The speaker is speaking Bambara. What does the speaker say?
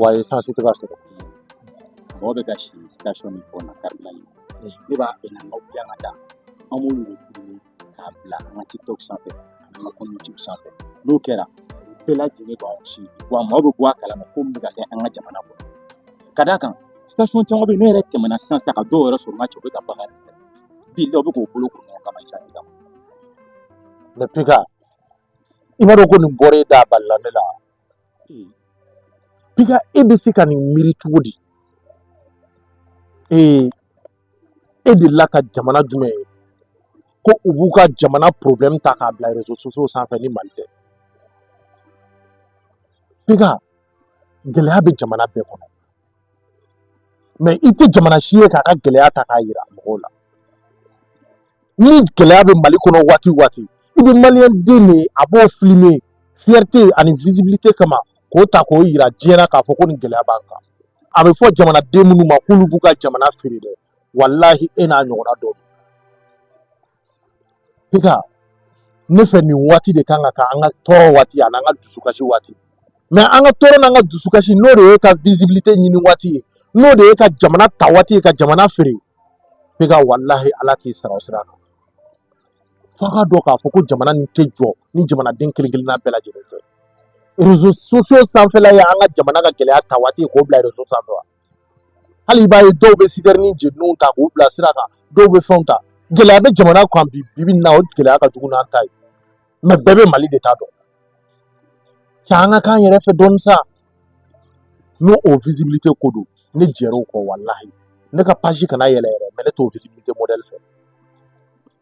wa esansi tɛ ka sɔrɔ mɔgɔ bɛ ka si station min fɔ na karibiran in ne b'a fɛ na aw bila ka taa an b'olu de tuguni k'a bila an ka tiktok sanfɛ an ka compte youtube sanfɛ n'o kɛra bɛɛ lajɛlen b'aw si wa maaw bɛ bɔ a kalama ko min bɛ ka kɛ an ka jamana kɔnɔ ka d'a kan station caman bɛ yen ne yɛrɛ tɛmɛna sisan sisan ka dɔw yɛrɛ sɔrɔ n ka cɛ u bɛ ka bagarre de kɛ bi dɔw bɛ k'o bolo ko ɲɔgɔn kama esansi kama mɛ piga i m'a dɔn ko nin bɔra e da a balala ne la Piga e bɛ se ka nin miiri cogo di ee e delila ka jamana jumɛn ye ko u b'u ka jamana porobilɛmu ta k'a bila rezo sosiyo sanfɛ ni mali tɛ piga gɛlɛya bɛ jamana bɛɛ kɔnɔ mɛ i tɛ jamana si ye k'a ka gɛlɛya ta k'a yira mɔgɔw la ni gɛlɛya bɛ mali kɔnɔ waati waati i bɛ maliyɛn den de ye a b'o filime fiyɛrite ani visibilite kama k'o ta k'o yira diɲɛ na k'a fɔ ko nin gɛlɛya b'an kan a bɛ fɔ jamanaden minnu ma k'olu b'u ka jamana feere dɛ walahi e n'a ɲɔgɔnna dɔ Piga ne fɛ nin waati de kan ka kɛ an ka tɔɔrɔ waati ani an ka dusukasi waati mɛ an ka tɔɔrɔ n'an ka dusukasi n'o de y'e ka vizibilite ɲini waati ye n'o de y'e ka jamana ta waati ye ka jamana feere piga walahi ala k'i sara o sira kan f'a ka dɔn k'a fɔ ko jamana nin tɛ jɔ ni jamanaden kelen kelenna bɛɛ lajɛlen tɛ rezo sosiyo sanfɛla ye an ka jamana ka gɛlɛya ta waati ye k'o bila rezo sanfɛ wa hali i b'a ye dɔw bɛ sitɛrini jeniw ta k'u bila sira kan dɔw bɛ fɛnw ta gɛlɛya bɛ jamana kan bi bi na o gɛlɛya ka jugu n'an ta ye mɛ bɛɛ bɛ mali de ta dɔn cɛ an ka k'an yɛrɛ fɛ dɔɔni sa n'o o visibilité ko don ne jɛr'o kɔ walahi ne ka page kana yɛlɛ yɛrɛ mɛ ne t'o visibilité modèle fɛ